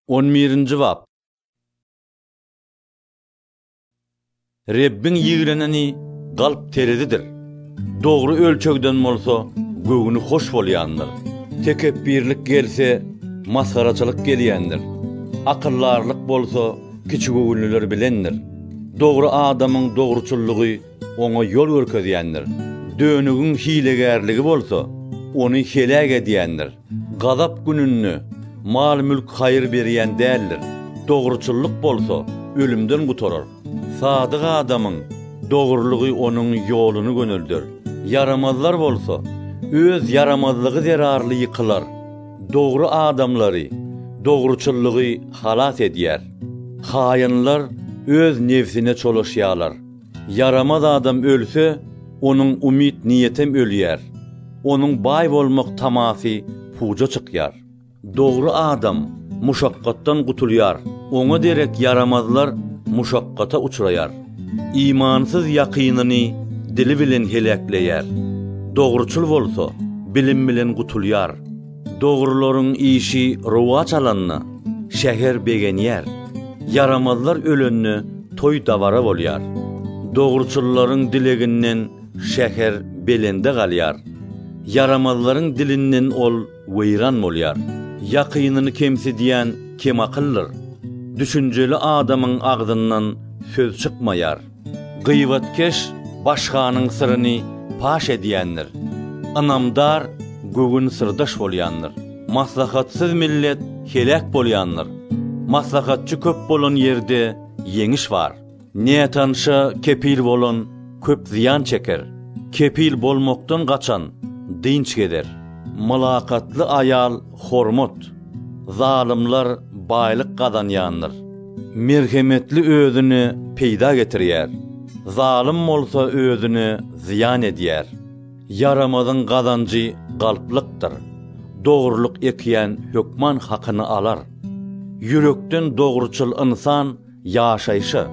On birinji bap. Rebbiň ýigreneni galp terezidir, dogry ölçegden bolsa göwni hoş bolýandyr. Tekepbirlik gelse, masgaraçylyk gelýändir, akyldarlyk bolsa kiçigöwünliler bilendir. Dogry adamyň dogruçyllygy oňa ýol görkezýändir, dönügiň hilegärligi bolsa, ony heläk edýändir. Gazap gününde mal-mülk haýyr berýän däldir, dogruçyllyk bolsa ölümden gutarar. Sadyk adamyň dogrulygy onuň ýoluny gönelder, ýaramazlar bolsa öz ýaramazlygy zerarly ýykylar. Dogry adamlary dogruçyllygy halas edýär. Haýynlar öz nebsine çolaşýarlar. Ýaramaz adam ölse, onuň umyt-niýetem ölýär, onuň baý bolmak tamasy puja çykýar. Dogry adam muşakgatdan gutulýar, oňa derek ýaramazlar muşakgata uçraýar. Imansyz ýakynyny dili bilen heläkleýär, dogruçyl bolsa, bilim bilen gutulýar. Dogrularyň işi rowaç alanda, şäher begenýär, ýaramazlar ölende toý-dabara bolýar. Dogruçyllaryň dileginden şäher belende galýar, ýaramazlaryň dilinden ol weýran bolýar. Ýakynyny kemsidýän kemakyldyr, düşünjeli adamyň agzyndan söz çykmaýar. Gybatkeş baş hanyň syryny paş edýändir, ynamdar göwün syrdaş bolýandyr. Maslahatsyz millet heläk bolýandyr, maslahatçy köp bolan ýerde ýeňiş bar. Nätanşa kepil bolan köp zyýan çeker, kepil bolmakdan gaçan dynç gezer. Mylakatly aýal Hormat! Zalymlar baýlyk gazanýandyr. Merhemetli özüne peýda getirýär, zalym bolsa özüne zyýan edýär. Ýaramazyň gazanjy galplykdyr. Dogrulyk ekýän hökman hakyny alar. Ýürekden dogruçyl ynsan Ýaşaýşa,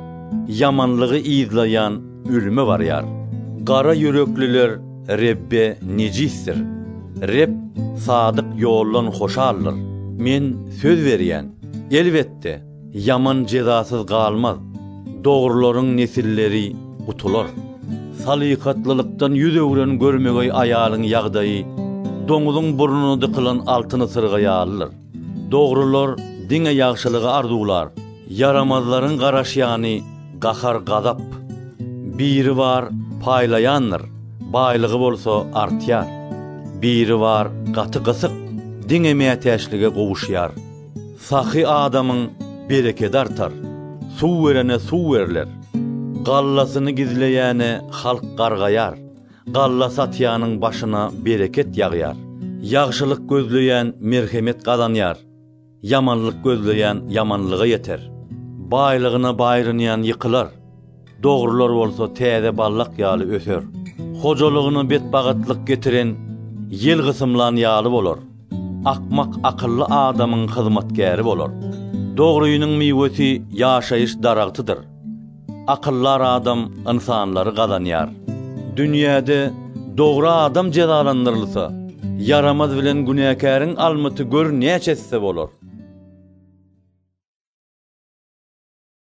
ýamanlygy yzlaýan ölüme barýar. Gara ýürekliler Rebbe nejisdir. Reb sadyk ýoldan hoşaldyr. Men söz berýän, elbetde, ýaman jezasyz galmaz. Dogrularyň nesilleri gutular. Salykatlylykdan ýüz öwren görmegeý aýalyň ýagdaýy doňuzyň burnuna dykylan altyn ysyrga ýalydyr. Dogrular diňe ýagşylygy arzuwlar. Ýaramazlaryň garaşýany gahar-gazap. Biri bar, paýlaýandyr, baýlygy bolsa artýar. Biri bar, gaty gysyk, diňe mätäçlige gowuşýar. Sahy adamyň berekedi artar. Suw berene suw berler. Gallasyny gizleýäne halk gargaýar. Galla satýanyň başyna bereket ýagýar. Ýagşylyk gözleýän merhemet gazanýar, ýamanlyk gözleýän ýamanlyga ýeter. Baýlygyna baýrynýan ýykylar, dogrular bolsa täze ballak ýaly öser. Hojalygyna betbagytlyk getiren ýel gysymlan ýaly bolar. Akmak akylly adamyň hyzmatkäri bolar. Dogrynyň miwesi ýaşaýyş daragtydyr. Akyldar adam ynsanlary gazanýar. Dünýäde dogry adam jezalandyrylsa, ýaramaz bilen günäkäriň almyty gör näçe esse bolar.